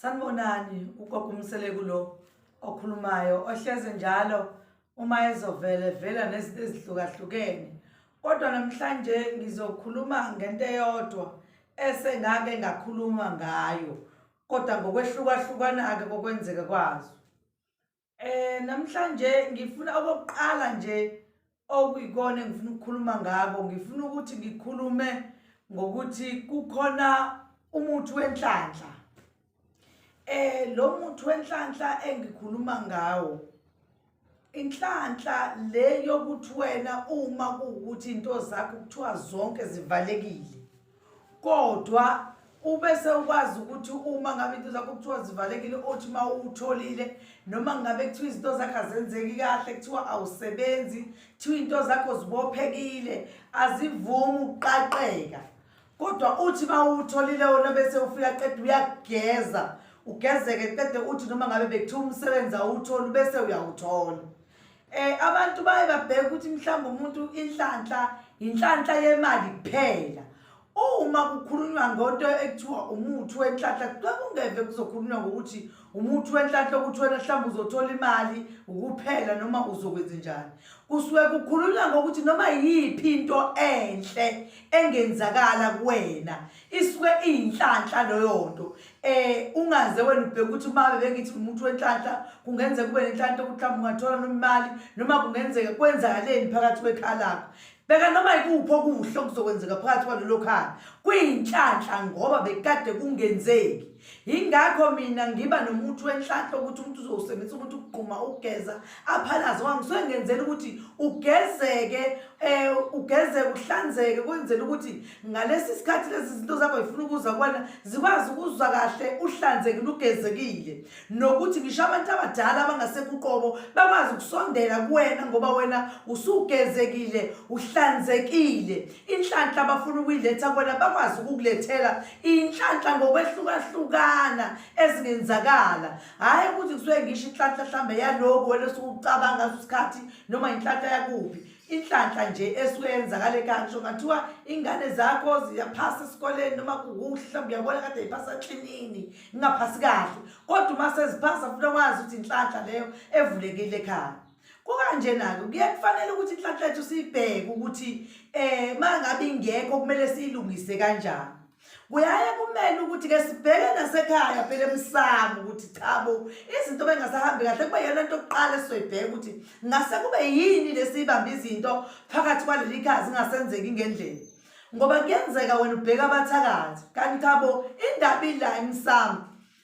sanibonani ugogo umseleku lo okhulumayo ohleze njalo uma ezovele vela nezinto ezihlukahlukene kodwa namhlanje ngizokhuluma ngento eyodwa esengake ngakhuluma ngayo kodwa ngokwehlukahlukana-ke kokwenzeka kwazo Eh namhlanje ngifuna okokuqala nje okuyikona engifuna ukukhuluma ngako ngifuna ukuthi ngikhulume ngokuthi kukhona umuthi wenhlanhla eh lo muthi wenhlanhla engikhuluma ngawo inhlanhla le yokuthi wena uma kuwukuthi into zakho kuthiwa zonke zivalekile kodwa ubese ukwazi ukuthi uma ngabe into zakho kuthiwa zivalekile othi uma uwutholile noma ngabe kuthiwa izinto zakho azenzeki kahle kuthiwa awusebenzi kuthiwa into zakho zibophekile azivumi ukuqaqeka kodwa uthi uma uwutholile wona bese ufika qeda uyageza ugezeke qede uthi noma ngabe bekuthiwa umsebenzi awuwutholi bese uyawuthola Eh abantu baye babheka ukuthi mhlawumbe umuntu inhlanhla inhlanhla yemali kuphela. Uma kukhulunywa ngonto ekuthiwa umuthi wenhlanhla kuqala kungeve kuzokhulunywa ngokuthi umuthi wenhlanhla ukuthi wena mhlawumbe uzothola imali ukuphela noma uzokwenza njani. Kusuke kukhulunywa ngokuthi noma yiphi into enhle engenzakala kuwena isuke iyinhlanhla loyo nto eh ungaze wena ubheke ukuthi uma bebekithi umuntu wenhlanhla kungenzeka kube nenhlanhla ukuthi mhlawumbe ungathola nomali noma kungenzeka kwenzakaleni phakathi kwekhaya lakho bheka noma yikuphi okuhle okuzokwenzeka phakathi kwalelo khaya kuyinhlanhla ngoba bekade kungenzeki yingakho mina ngiba nomuntu wenhlanhla ukuthi umuntu uzowusebenzisa ukuthi ukugquma ukugeza aphalaze wami kusuke ngenzela ukuthi ugezeke um ugezeke uhlanzeke kwenzela ukuthi ngalesi sikhathi lezi zinto zakho zifuna ukuza kuwena zikwazi ukuzwa kahle uhlanzekile ugezekile nokuthi ngisho abantu abadala abangasekuqobo bakwazi ukusondela kuwena ngoba wena usugezekile uhlanzekile inhlanhla abafuna ukuyiletha kuwena bakwazi ukukulethela inhlanhla ngokwehlukahlukana ezingenzakala hhayi ukuthi kusuke ngisho inhlanhla mhlawumbe yalokhu wena sukucabanga sikhathi noma inhlanhla yakuphi inhlanhla nje esuke yenzakale kanjho ngathiwa ingane zakho ziyaphasa esikoleni noma kukuhle mhlawumbe uyabona kade yiphasa klinini ingaphasi kahle kodwa uma seziphasa funa wazi ukuthi inhlanhla leyo evulekile ekhaya kukanjena-ke kuye kufanele ukuthi inhlanhla yethu siyibheke ukuthi um eh, uma ngabe ingekho kumele siyilungise kanjani kuyaye kumele ukuthi ke sibheke nasekhaya phela emsamo ukuthi chabo izinto bengasahambi kahle kube yona into yokuqala esizoyibheka ukuthi ngase kube yini lesiyibamba izinto phakathi kwaleli khaya zingasenzeki ngendlela ngoba kuyenzeka wena ubheka abathakathi kanti chabo indaba ila emsamo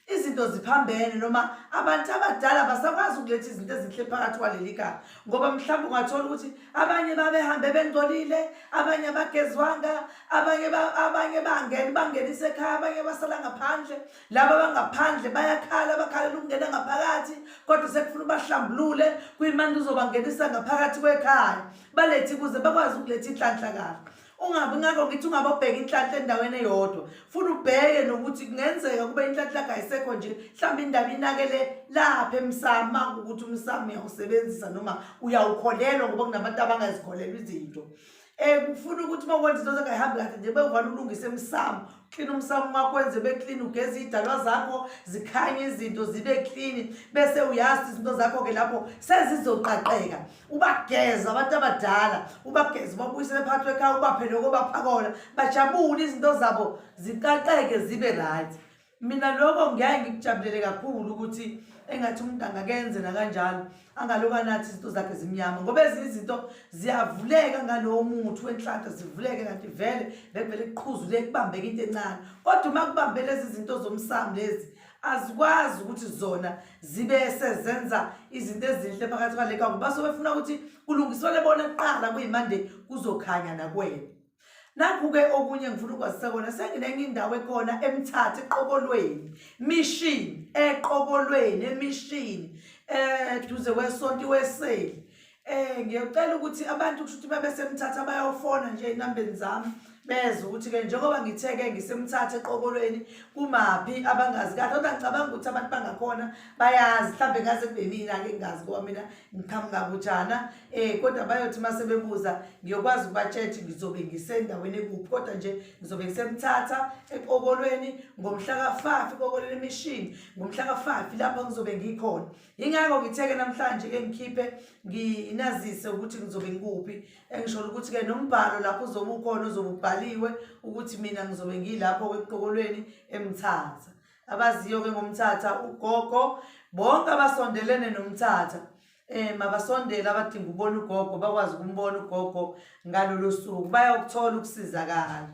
izinto ziphambene noma abantu abadala basakwazi ukuletha izinto ezinhle phakathi kwaleli kala ngoba mhlawumbe ungathola ukuthi abanye babehambe bengcolile abanye bagezwanga abanye abanye bangene bangenise ekhaya abanye basala ngaphandle laba bangaphandle bayakhala bakhalela ukungena ngaphakathi kodwa sekufuna ubahlambulule kuyimanje uzobangenisa ngaphakathi kwekhaya balethi kuze bakwazi ukuletha inhlanhla kahle ungabi ngakho ngithi ungabobheka inhlanhla endaweni eyodwa futhi ubheke nokuthi kungenzeka kube inhlanhla kayisekho nje mhlawumbe indaba inakele lapha emsama ukuthi umsama uyawusebenzisa noma uyawukholelwa ngoba kunabantu abangazikholelwa izinto um kufuna ukuthi uma kwenza into zengayihambi kahle nje bewuvane ulungise emsamo clean umsamo makwenze ube clean ugeze iy'dalwa zakho zikhanye izinto zibe clean bese uyazi izinto zakho-ke lapho sezizoqaqeka ubageze abantu abadala ubageze ubabuyisele phakathi kwekhaya ubaphe loko baphakona bajabule izinto zabo ziqaqeke zibe right mina loko ngiyaye ngikujabulele kakhulu ukuthi engathi umuntu angakenze nakanjalo angaloba nathi izinto zakhe zimnyama ngoba ezinye izinto ziyavuleka ngalowo muthi wenhlanhla zivuleke kanti vele bekuvele kuqhuzule kubambeke into encane kodwa uma kubambe lezi zinto zomsamu lezi azikwazi ukuthi zona zibe sezenza izinto ezinhle phakathi kwale kangoba sobefuna ukuthi kulungiswele bona kuqala kuyimande kuzokhanya nakwena nakhu-ke okunye ngifuna ukwazisa kona senginenye indawo ekhona emthatha eqokolweni mishini eqokolweni emishini um duze kwesonto iweseli um ngiyocela ukuthi abantu kusho ukuthi babesemthatha bayofona nje ey'nambeni zami beze ukuthi-ke njengoba ngithe-ke ngisemthatha eqokolweni kumaphi abangazi kahle kodwa ngicabanga ukuthi abantu bangakhona bayazi mhlawumbe ngaze kube mina-ke ngingazi ngoba mina ngiqhamuka kujana um Eh kodwa bayothi mase bebuza ngiyokwazi ukubatshetsha ngizobe ngisendaweni ekuphi kodwa nje ngizobe ngisemthatha eqokolweni ngomhla ka5 eqokolweni emishini ngomhla ka5 lapho ngizobe ngikhona ingakho ngitheke namhlanje ke ngikhiphe nginazise ukuthi ngizobe ngikuphi engishola ukuthi ke nombhalo lapho uzobe ukhona uzobe ubhaliwe ukuthi mina ngizobe ngilapho eqokolweni emthatha abaziyo ke ngomthatha ugogo bonke abasondelene nomthatha um mabasondele abadinga ubona ugogo bakwazi ukumbona ugogo ngalolo suku bayawukuthola ukusizakala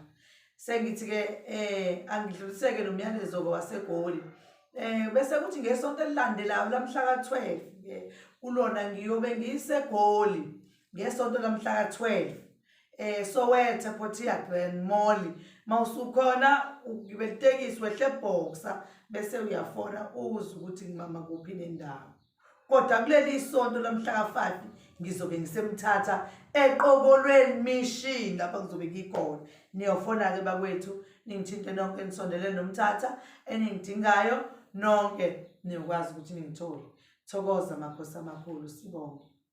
sengithi-ke um angidluliseke lo myalezo-ke wasegoli um bese kuthi ngesonto elilandelayo lamhla ka-twelve ke kulona ngiyobe ngisegoli ngesonto lamhla ka-twelve um sowethe potiagren molly ma usukhona ugibelitekisi wehlebhoksa bese uyafona uze ukuthi ngimama kuphi nendawo kodwa kuleli isonto lomhlaka 5 ngizobe ngisemthatha eqokolweni mishini lapha ngizobe ngikhona niyofona-ke bakwethu ningithinte nonke nisondelele nomthatha eningidingayo nonke niyokwazi ukuthi ningithole thokoza makhosi amakhulu sibonge